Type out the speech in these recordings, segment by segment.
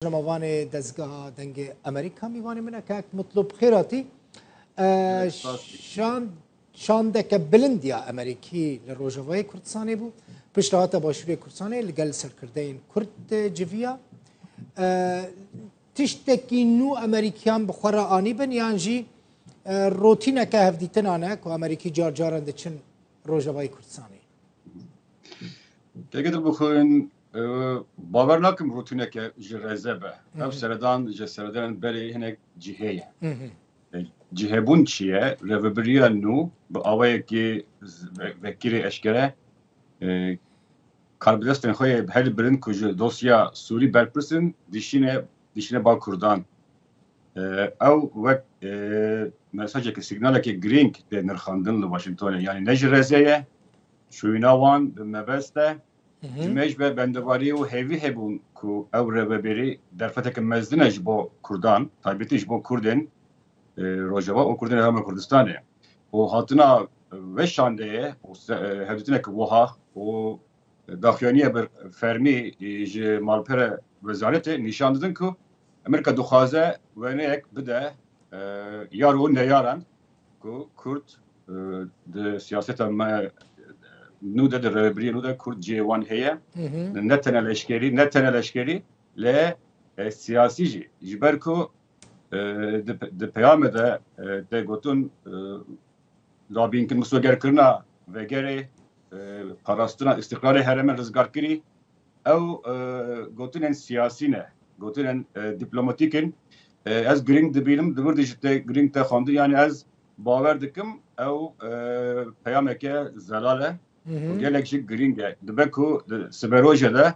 Nemavanê dezgeha dengê Amerîka mîvanê min e kak Mutlub Xêratî şan şandeke bilindiya Amerîkî li Rojavayê Kurdistanê bû piştahata başûrê Kurdistanê li gel serkirdeyên Kurd civiya tiştekî nû Amerîkiyan bi xwe re anîbin yan jî rotîneke hevdîtinan e ku Amerîkî car caran diçin Rojavayê Kurdistanê. Têgidil bixwin Bawer nakim rûtîneke ji reze be. Ev seredan ji seredanên berê hinek cihê ye. Cihêbûn çi ye? Rêvebiriya nû bi awayekî vekirê eşkere karbidestên xwe yê bi herî bilind ku ji dosya Sûrî berpirs in dişîne dişîne bal Kurdan. Ew wek mesajekî signalekî girîng tê nirxandin li Washingtonê. Yanî ne ji reze ye, şûyîna wan bi mebest e. Di me ji be bendevarî û hêvî hebûn ku ew rêvebêrî derfeteke mezin e ji bo Kurdan, taybetî ji bo Kurdên Rojava û Kurdên Herêma Kurdistanê. Û hatina ve şandeyê û hevdîtineke wiha û daxuyaniya bi fermî ji malpera wezaretê nîşan didin ku Amerîka dixwaze wêneyek bide yar û neyaran, Ku Kurd di siyaseta me nû de di rêbiriyê nû de Kurd cihê wan heye. Ne tene leşkerî, ne tene leşkerî lê siyasî jî. Ji ber ku di peyame de tê gotin labînkin misogerkirina vegerê, parastina îstîqlalê herême rizgarkirî Ew gotinên siyasî ne, gotinên dîplomatîk in. Ez girîng dibînim, di vir de jî tê girîng te xwendin. Yanî ez bawer dikim ew peyameke zelal e û gelek jî girîng e. Dibe ku di siberoje de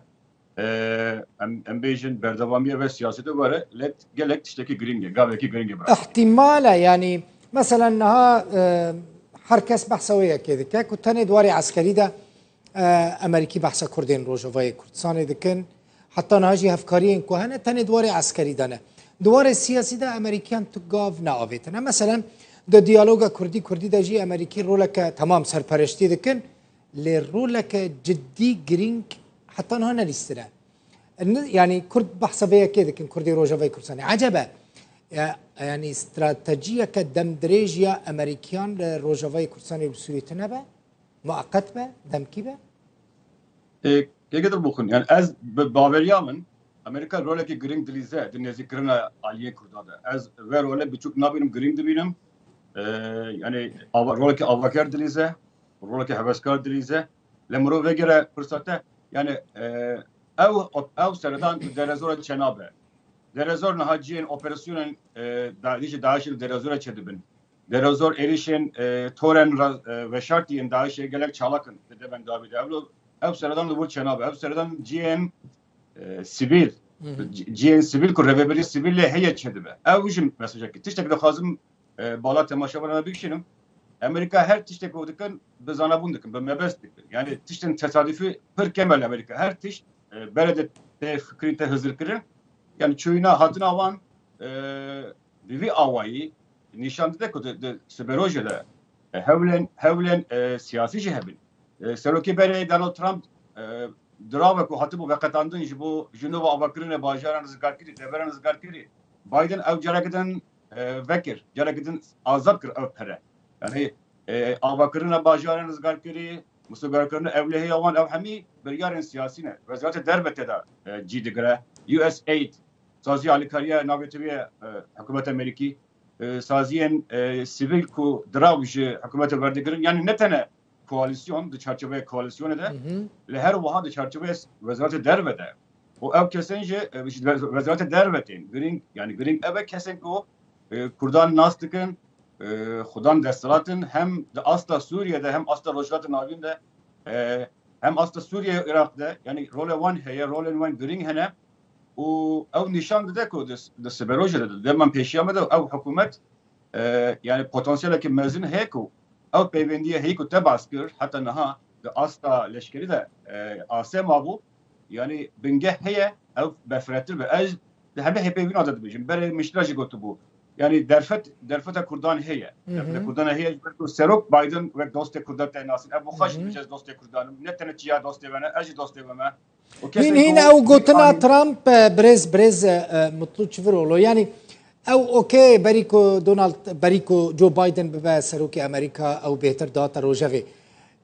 em bêjin berdewamiye ve siyasetê were lê gelek tiştekî girîng e, gavekî girîng e bira. Îhtîmal e yanî meselen niha her kes behsa wê yekê dike ku tenê di warê eskerî de Emerîkî behsa Kurdên Rojavayê Kurdistanê dikin. Heta niha jî hevkariyên ku hene tenê diwarê eskerî de ne. Diwarê siyasî de Emerîkiyan tu gav neavêtine. Meselen di diyaloga Kurdî Kurdî de jî Emerîkî roleke temam serpereştî dikin lê roleke cidî girîng heta niha nelîstine. Yani Kurd behsa vê yekê dikin Kurdê Rojavayê Kurdistanê. Ecebe yani stratejiyeke demdirêj ya Emerîkiyan li Rojavayê Kurdistanê bi Sûrî tune be? Mueqet be, demkî be? Hêgê dir bixwin. Yani ez bi baveriya min Amerîka rolekî girîng dilîze di nêzîkkirina aliyên Kurda de. Ez ve role biçûk nabînim, girîng dibînim. Yani rolekî avaker dilîze, rolekî heveskar dilîze. Lê mirov vegere pirsa te, yani ew ew seredan di derezora çena be. Derezor niha ciyên operasyonên DAIŞ li derezora çi dibin? Derozor êrîşên torên veşartî yên DAIŞ'ê gelek çalak in di devên dawî de. Ew ew seredan li wir çênabe. Ew seredan cihên sivîl cihên sivîl ku rêveberî sivîl lê heye çêdibe. Ew jî mesajekî. Tiştek dixwazim bala temaşevanan ve bikişînim. Amerîka her tiştê ku dikin bi zanabûn dikin, bi mebest dikin. Yanî tiştên tesadîfî pir kêm e li Amerîka. Her tişt bere de tê fikirîn, tê hizirkirin. Yanî çûyîna hatina wan bi vî awayî nîşan dide ku di siberojê de hewlên hewlên siyasî jî hebin. Serokê berê Donald Trump dirave ku hatibû veqetandin ji bo ji nû ve avakirinê bajaran rizgarkirî, deveran rizgarkirî. Biden ew careke din vekir, careke din azad kir ev pere. Yanî avakirina bajaran rizgarkirî, misogerkirina ewlehêya wan ew hemî biryarên siyasî ne. Weziratê Derve tê de cî digire. USAID Sazî alikariya navê tevî ye hikûmeta Amerîkî. Saziyên sivîl ku dirav ji hikûmetê werdigirin yanî ne tene koalîsyon di çarçoveya koalîsyonê de li her wiha di çarçoveya Wezaretê Derve de û ew kesên jî ji Wezaretê Derve tên. Girîng yanî girîng ev e kesên ku kurdan nas dikin, xwe dan desthilatin hem di asta Sûriyê de hem asta Rojhilatê Navîn de hem asta Sûriyê û Iraq de yanî role wan heye, rolên wan girîng hene. û ew nîşan dide ku di siberojê de di dema pêşiya me de ew hikûmet yanî potansiyeleke mezin heye ku ew peyvendiyê heyî ku te bas kir heta niha di asta leşkerî de asê mabû yanî bingeh heye ew befretir be. Ez di hemî hêpêvîna de dibêjim berê min ji te re jî gotibû yanî derfet derfeta Kurdan heye derfeta Kurdan heye ji ber ku Serok Biden wek dostê Kurdan tênasîn ev bixweş dibêje ez dostê Kurdan im ne tenê çiya dostê we ne ez jî dostê we me. Hîn hîn ew gotina Trump e, birêz birêz e, e, mutlu çivirolo yani ew okey berî ku Donald berî ku Joe Biden bibe serokê Amerîka ew bêhtir dihate rojevê.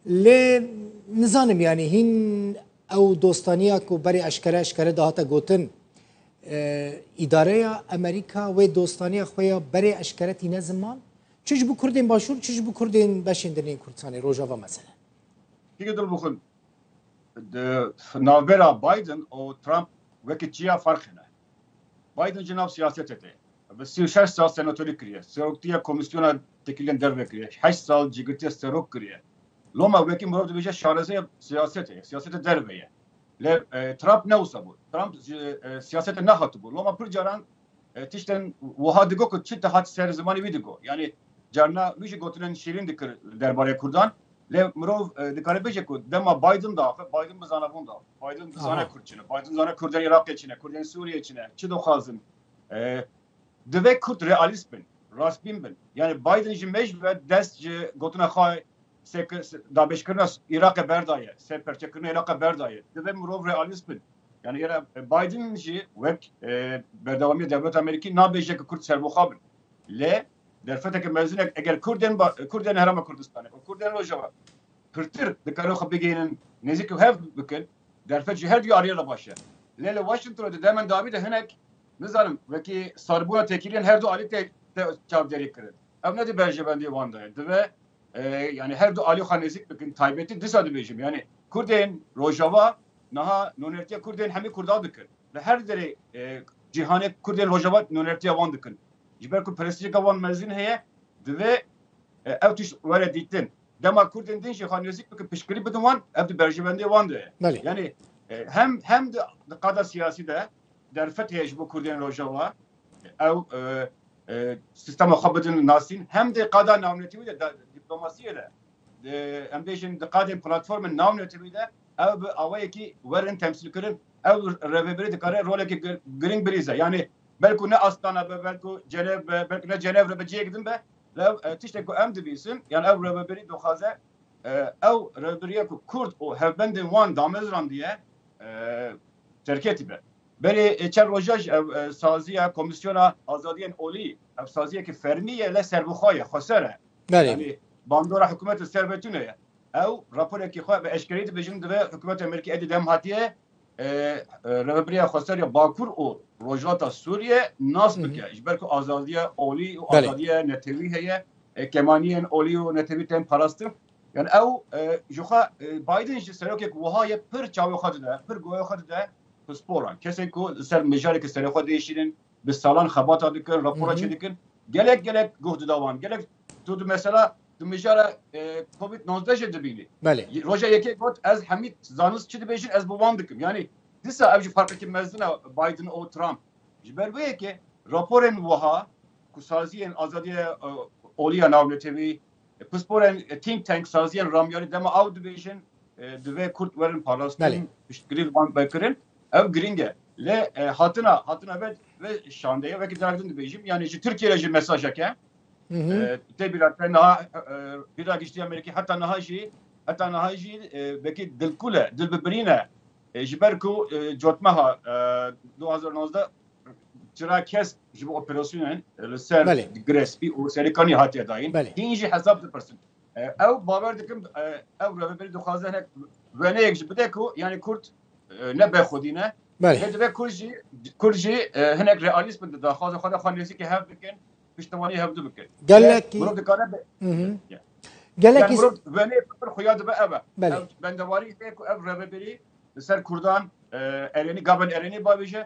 Lê nizanim yani hîn ew dostaniya ku berî eşkere eşkere dihate gotin e, îdareya Amerîka wê dostaniya xwe ya berê eşkere tîne ziman çi ji bo Kurdên başûr çi ji bo Kurdên beşên din ên Kurdistanê rojava mesele. Peki dur bukun. Di navbera Biden û Trump wekî çiya ferq hene. Biden ji nav siyasetê tê. Bi sî û şeş sal senatorî kiriye, seroktiya komîsyona tekîlên derve kiriye, heşt sal cîgirtiya serok kiriye. Loma wekî mirov dibêje şarezeya siyasetê ye, siyaseta derve ye. Lê Trump ne wisa bû. Trump ji siyasetê nehatibû. Loma pir caran Tiştên wiha digo ku çi dihat ser zimanê wî digo. Yanî carina wî jî gotinên şîrîn dikir derbarê kurdan. Lê mirov dikare bêje ku dema Biden da axir Biden bi zanavon da. Biden dizane kurd çi ne. Biden dizane kurdên Iraqê çi ne, kurdên Sûriyê çi ne, çi dixwazin. Divê kurd realîst bin, rastbîn bin. Yanî Biden ji mêj ve dest ji gotina xwe Sê ke dabêjkirina Îraqê berdaye, sê perçekirina Îraqê berdaye, divê mirov realîst bin. Yanî hêra Biden jî wek berdewamiya dewleta Amerîkî nabêje ke kurd serbixwe bin. Lê derfeteke mezin e eger kurd ên kurd ên Herêma Kurdistanê û kurd ên Rojava pirtir dikarin xwe bigihînin nêzîk û hev bikin, derfet ji her duyariyê re baş e. Lê li Washington de demên dawî de hinek nizanim wekî sarbûna têkiliyên her du alî tê çavdêrî kirin. Ew ne di berjevendiyê wan de ye. Divê yani her du alî xwe nêzîk bikin taybetî disa dibêjim yani Kurdên rojava niha nonertiya Kurdên hemî Kurda dikin li her derê cîhanê Kurdên rojava nonertiya wan dikin ji ber ku prestijeke wan mezin heye divê ew tişt were dîtin dema Kurdên din jî xwe nêzîk bikin piştgirî bidin wan ev di berjivendê wan de ye yani hem hem di qada siyasî de derfet heye ji bo Kurdên rojava ew sîstema xwe bidin nasîn hem dê qada navnetewî de dîplomasiyê de em bêjin di qadên platformên navnetewî de ew bi awayekî werin temsîlkirin ew revêbirî dikare rolekî girîng bilîze yanî belkû ne Astana be belkû Cenev be belkû ne Cenev re be cihêk din be lê ew tiştê ku em dibîsin yan ew revêbirî dixwaze ew revêbiriya ku Kurd û hevbendên wan damezirandiye terketî be. Berê çend roja ji ev saziya Komîsyona Azadiyên Olî, ev saziyeke fermî ye lê serbixwe ye, xweser e. Yanî bandora hikûmet li ser vê tune ye. Ew raporekî xwe bi eşkereyî dibêjin divê hikûmeta Amerîkî êdî dem hatiyê rêveberiya xweser ya Bakur û Rojhilata Sûriyê nas bike. Ji ber ku azadiya olî û azadiya netewî heye, kemaniyên olî û netewî tên parastin. Yan ew ji xwe Biden ji serokek wiha ye pir çavê xwe dide, pir goya xwe dide pisporan. Kesên ku li ser mijareke serê xwe diêşînin, bi salan xebata dikin, rapora çêdikin, gelek gelek guh dida wan. Gelek tu di mesela di mijara covid nozdeh jê dibînî. Roja yekê got ez hemî zanist çi dibêjin ez bi wan dikim. Yanî dîsa ev jî ferqekî mezin e Biden û Trump. Ji ber wê yekê raporên wiha ku saziyên azadiya olî ya navnetewî, Pisporên think tank saziyên ramyarî dema aw dibêjin divê Kurd werin parastin, piştgirî li wan be kirin. Ev girîng e. Lê hatina hatina vê vê şandeyê wekî careke din dibêjim yanî ji Tirkiyê re jî mesajek e. Tê bîra te niha bîra giştî ya Mêrikî heta niha jî heta niha jî wekî dilkûl e, dilbibirîn e. Ji ber ku cotmeha du hezar û nozdeh Çira kes ji bo operasyonên li ser girespî û serikanî hatiye dayîn hîn jî hesab dipirsin. Ew bawer dikim ew revberî dixwaze hinek weneyek ji bide ku yanî Kurd ne bexwedî ne lê dibe Kurd jî Kurd jî hinek realîst bin daxwaza xwe de xwe nêzîkê hev bikin piştiwanî hev du bikin. Gelekî dikare gelekî wenê pir xuya dibe ev e. Bendewarî tê ku ev revberî li ser Kurdan erênî gaben erênî bavêje